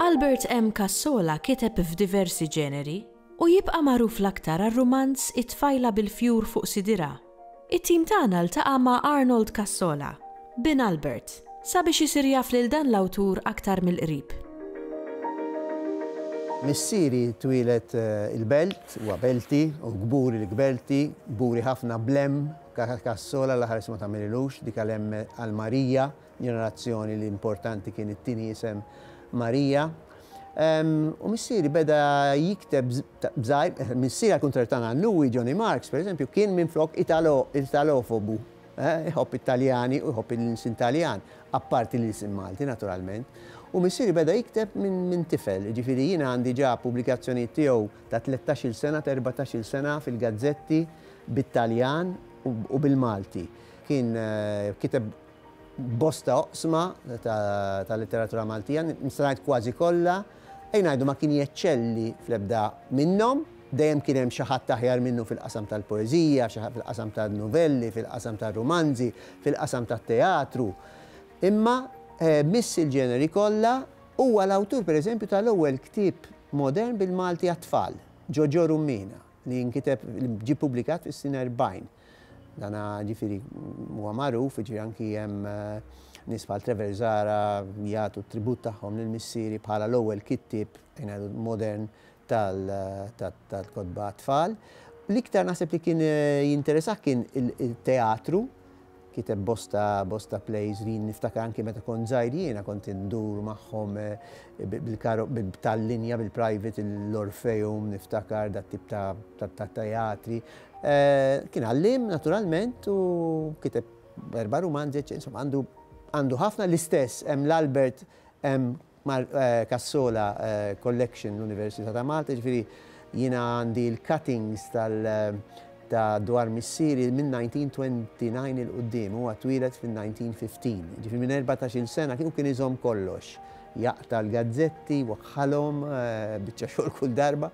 Albert M. Cassola kiteb f'diversi ġeneri u jibqa' magħruf l-aktar għar-rumanz It-tfajla bil-fjur fuq sidirha It-tim tagħna ltaqa' ma' Arnold Cassola, bin Albert, sabiex isir jaf lil dan l-awtur aktar mill-qrib. Missieri twieled il-Belt, huwa Belti, u kburi l-Kbelti, kburi ħafna bl-hemm, Cassola l-aħħar isma tagħmililux, dik għal hemm għal Marija, ġenerazzjoni li importanti kien it-tieni isem Marija. U missieri beda jikteb b'żgħir, missieri għal kuntrarju tagħna Louis Johnny Marks, pereżempju, kien minflok Italo, Italofobu, eh, iħobb it-Taljani u jħobb l-insin Taljan, apparti l-isim Malti naturalment. U missieri beda jikteb minn min tifel, jiġifieri jien għandi ġa pubblikazzjonijiet tiegħu ta' tlettax-il sena, ta' erbatax-il sena fil-gazzetti bit-Taljan u bil-Malti. Kien eh, kiteb Bosta oqsma tal-litteratura Maltija, nista' ngħid kważi kollha, ejja ngħidu ma kien jeċċelli fl-ebda minnhom. Dejjem kien hemm xi ħadd aħjar minnu fil-qasam tal-poeżija, xi ħadd fil-qasam tan-nuvelli, fil-qasam tar-rumanzi, fil-qasam tat-teatru. Imma miss il-ġeneri kollha, huwa l-awtur pereżempju tal-ewwel ktieb modern bil-Malti għat-tfal, Ġoġo Rummina, li nkiteb, li ġie ppubblikat fis-snin erbgħin. Dan ġifieri huwa magħruf, jiġifieri anki hemm nies bħal Trevor Zahra jagħtu t-tribut tagħhom lil missieri bħala l-ewwel kittieb ngħidu modern tal-kotba għat-tfal. L-iktar naħseb li kien jinteresah kien it-teatru, kiteb bosta bosta plays li niftakar anki meta kont żgħir jiena kont indur magħhom tal-linja bil-private l-Orpheum niftakar dat-tip ta' teatri. Kien għalliem naturalment u kiteb erba' rumanzi, eċċetera. Insomma, għandu għandu ħafna l-istess hemm l-Albert hemm Mar- eh, Cassola eh, Collection l-Università ta' Malta, ġifieri jiena għandi l-cuttings tal ta' dwar missieri minn 1929 il qudiem huwa twieled fin-1915. Ġifieri minn 14-il sena kien u kien iżomm kollox. Jaqta' l-gazzetti, waħħalhom, eh, biċċa xogħol kull darba.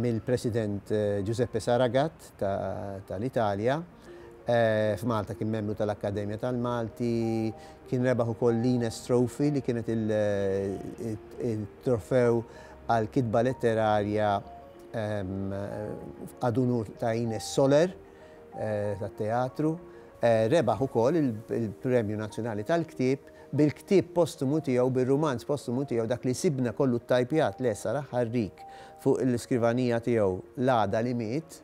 mill-President Giuseppe Saragat tal-Italja. F'Malta kien membru tal-Akkademja tal-Malti, kien rebaħ ukoll l-Ines Trophy li kienet il-trofew għall-kitba letterarja ad unur ta' Ines Soler tat-teatru. Rebaħ ukoll il-Premju Nazzjonali tal-Ktieb. bil-ktieb postumu tiegħu, bir-rumanz postumu tiegħu, dak li jsibna kollu ttajpjat, le, sar aħħar rig fuq l-iskrivanija tiegħu l-għada li miet,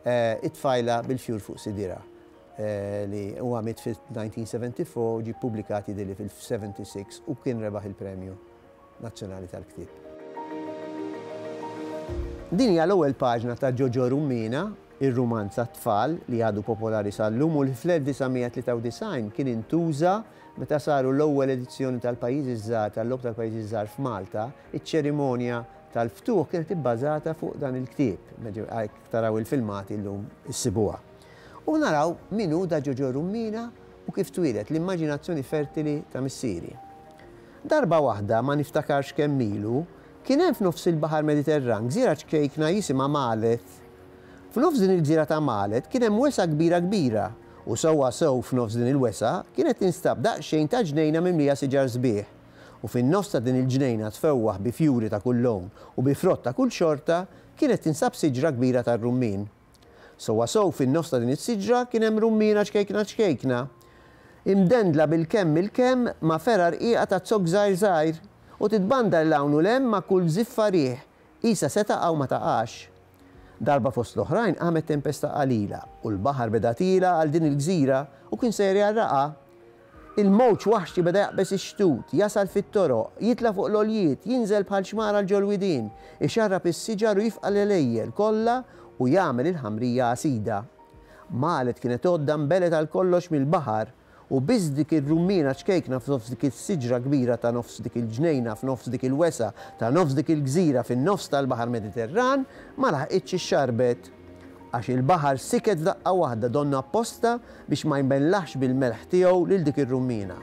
It-Tfajla bil-Fjur fuq Sidirha, li huwa miet fil-1974 u ġie ppubblikat jidhirli fil-76 u kien rebaħ il-Premju Nazzjonali tal-Ktieb. Din hija l-ewwel paġna ta' Ġoġo Rummina, ir-rumanz għat-tfal li għadu popolari sal-lum u li fl-1993 kien intuża Meta saru l-ewwel edizzjoni tal-Pajjiżi ż-Żgħar tal-Logħob tal-Pajjiżi ż-Żgħar f'Malta, iċ-ċerimonja tal-ftuħ kienet ibbażata fuq dan il-ktieb, hekk taraw il-filmati llum issibuha. U naraw min hu Da Ġoġo Rummina u kif twieled l-immaġinazzjoni fertili ta' missieri. Darba waħda, ma niftakarx kemm ilu, kien hemm f'nofs il-Baħar Mediterran gżira ċkejkna jisimha Maleth. F'nofs din il-gżira ta' Maleth kien hemm wesgħa kbira kbira, U sewwa sew f'nofs din il-wesgħa kienet tinstab daqsxejn ta' ġnejna mimlija siġar sbieħ, u fin-nofs ta' din il-ġnejna tfewwaħ bi fjuri ta' kull lown u bi frott ta' kull xorta kienet tinsab siġra kbira tar-rummien. Sewwa sew fin-nofs ta' din is-siġra kien hemm rummiena ċkejkna ċkejkna, imdendla bil-kemm il-kemm ma' fergħa rqiqa ta' zokk żgħir żgħir, u titbandar 'l hawn u 'l hemm ma' kull żiffa riħ, Qisha se taqa' u ma taqax. Darba fost l-oħrajn qamet tempesta qalila, u l-baħar beda tiela' għal din il-gżira, u kien sejjer jgħarraqha. Il-mowġ waħxi beda jaqbeż ix-xtut, jasal fit-toroq, jitla' fuq l-għoljiet, jinżel bħal xmara għal ġol-widien, ixarrab is-siġar u jifqa' l-għelejjel kollha u jagħmel il-ħamrija għasida. Maled kienet għodda nbeled għal kollox mill-baħar. U biss dik ir-rummiena ċkejkna f'nofs dik is-siġra kbira ta' nofs dik il-ġnejna f'nofs dik il-wesgħa ta' nofs dik il-gżira fin-nofs tal-baħar Mediterran ma laħqitx ix-xarbet. Għax il-baħar siket f'daqqa waħda donnha apposta biex ma jmellaħx bil-melħ tiegħu lil dik ir-rummiena.